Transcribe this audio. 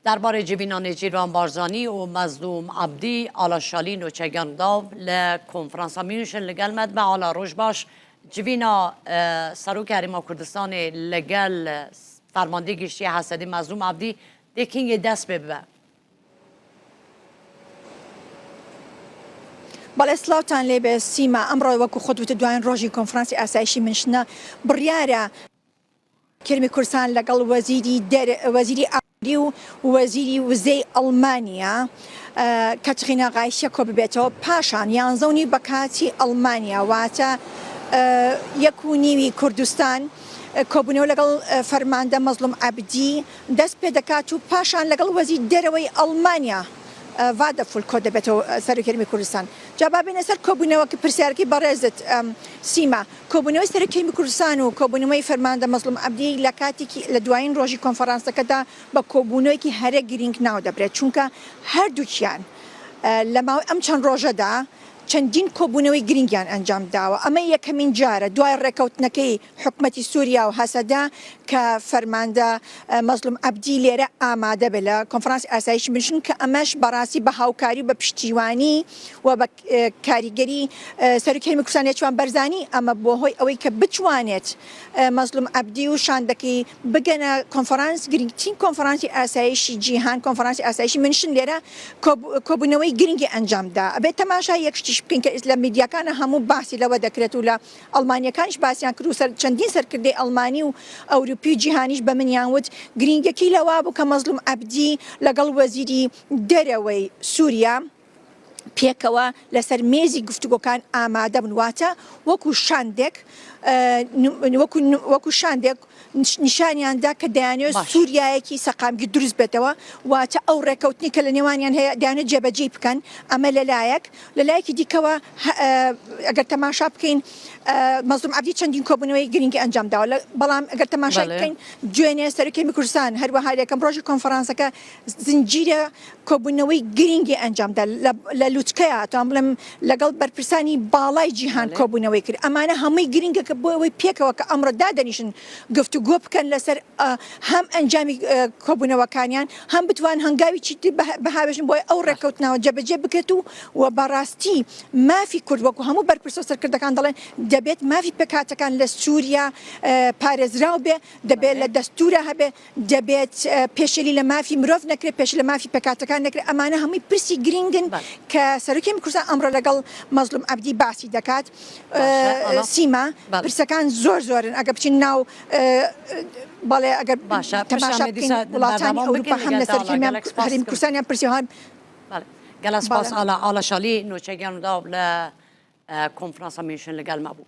دەربارەی جڤینا نێچیرڤان بارزانی و مەزلوم عەبدی، ئالا شالی نۆچەگان گاو لە کۆنفرانسا میونشن لەگەل مەتبە ئالا رۆژ باش جڤینا سەرۆک هەرێما کوردستانێ لەگەل فەرماندەی گشتیە هەسەدەی مەزلوم عەبدی دێ کینگێ دەس پێ ببە. بەڵێ سڵاوتان لێبێ سیما ئەمڕۆ وەکو خۆت وتت دوایین ڕۆژی کۆنفرانسی ئاسایشی منشنە بڕیارە کرمی کورسان لەگەڵ وەزیری ئابووری و وەزیری وزەی ئەڵمانیا کەتڕینا غایشە کۆببێتەوە پاشان یانزە و نیو بە کاتی ئەڵمانیا واتە یەک و نیوی کوردستان کۆبوونەوە لەگەڵ فەرماندە مەزڵوم عەبدی دەست پێ دەکات و پاشان لەگەڵ وەزیر دەرەوەی ئەڵمانیا ڤادەفول کۆ دەبێتەوە سەرۆکرمی کوردستان جا با بێنە سەر کۆبوونەوە کە پرسیارەکەی بەڕێزت سیما کۆبوونەوەی سەرۆکی هەرێمی کوردستان و کۆبوونەوەی فەرماندە مەزڵوم عەبدی لە کاتێکی لە دوایین ڕۆژی کۆنفەرانسەکەدا بە کۆبوونەوەیەکی هەرە گرینگ ناو دەبرێت چونکە هەردووکیان لە ماوەی ئەم چەند ڕۆژەدا چەندین کۆبوونەوەی گرینگیان ئەنجام داوە ئەمە یەکەمین جارە دوای ڕێکەوتنەکەی حکومەتی سوریا و هەسەدە کە فەرماندە مەزڵوم عەبدی لێرە ئامادە بێت لە کۆنفرانسی ئاسایشی بنشین کە ئەمەش بەڕاستی بە هاوکاری و بە پشتیوانی و بە کاریگەری سەرۆکی هەرێمی کوردستان نێچوان بەرزانی، ئەمە بووە هۆی ئەوەی کە بتوانێت مەزڵوم عەبدی و شاندەکەی بگەنە کۆنفرانس، گرنگترین کۆنفرانسی ئاسایشی جیهان، کۆنفرانسی ئاسایشی مینشن، لێرە کۆبوونەوەی گرنگی ئەنجام دا. ئەبێت تەماشای یەک شتیش بکەین کە لە میدیاکانە هەموو باسی لەوە دەکرێت و لە ئەڵمانییەکانیش باسیان کرد و چەندین سەرکردەی ئەڵمانی و ئەوروپی و جیهانیش بە منیان وت، گرنگییەکەی لەوە بوو کە مەزڵوم عەبدی لەگەڵ وەزیری دەرەوەی سووریا، پێکەوە لەسەر مێزی گفتوگۆکان ئامادەبن واتە وەکو شاندێک وەکو شاندێک نیشانیاندا کە دەیانێت سووریایەکی سەقامگی دروست بێتەوە واتە ئەو ڕێکەوتنی کە لە نێوانیان هەیە دەیانێت جێبەجی بکەن ئەمە لەلایەک لەلایەکی دیکەوە ئەگەر تەماشا بکەین مەزم عبدی چەندین کۆبنەوەی گرنگی ئەنجام داوە بەڵام ئەگەر تەماشا بکەین دوێنێ سەرکەمی کوردستان هەروەها یەکەم ڕۆژی کۆنفرانسەکە زنجیرە کۆبوونەوەی گرینگی ئەنجامدا لە لوتکەیە توان بڵێم لەگەڵ بەرپرسانی باڵای جیهان کۆبوونەوەی کرد ئەمانە هەمووی گرنگەکە بۆ ئەوەی پێکەوە کە ئەمڕۆ دادەنیشن گفتو گۆ بکەن لەسەر هەم ئەنجامی کۆبوونەوەکانیان هەم بتوان هەنگاوی چیت بەهاوێژن بۆی ئەو ڕێککەوتنەوە جەبەجێ بکرێت و و بەڕاستی مافی کورد وەکو هەموو بەرپرسە سەرکردەکان دەڵێن دەبێت مافی پێکاتەکان لە سووریا پارێزراو بێ دەبێت لە دەستورە هەبێ دەبێت پێشێلی لە مافی مرۆڤ نەکرێت پێش لە مافی پێکاتەکان نەکرێت ئەمانە هەمووی پرسی گرنگن کە سەرکی میکوسان ئەمڕۆ لەگەڵ مەزلوم عبدی باسی دەکات سیما پرسەکان زۆر زۆرن ئەگە بچین ناو بەڵێ ئەگەر باشە تەماشا وڵاتانی ئەوروپا هەم لە سەرکی میکوسانیان پرسیوان گەلە سپاس ئالا ئالا شالی نوچەگیان و داو لە کۆنفرانسە میشن لەگەلما بوو.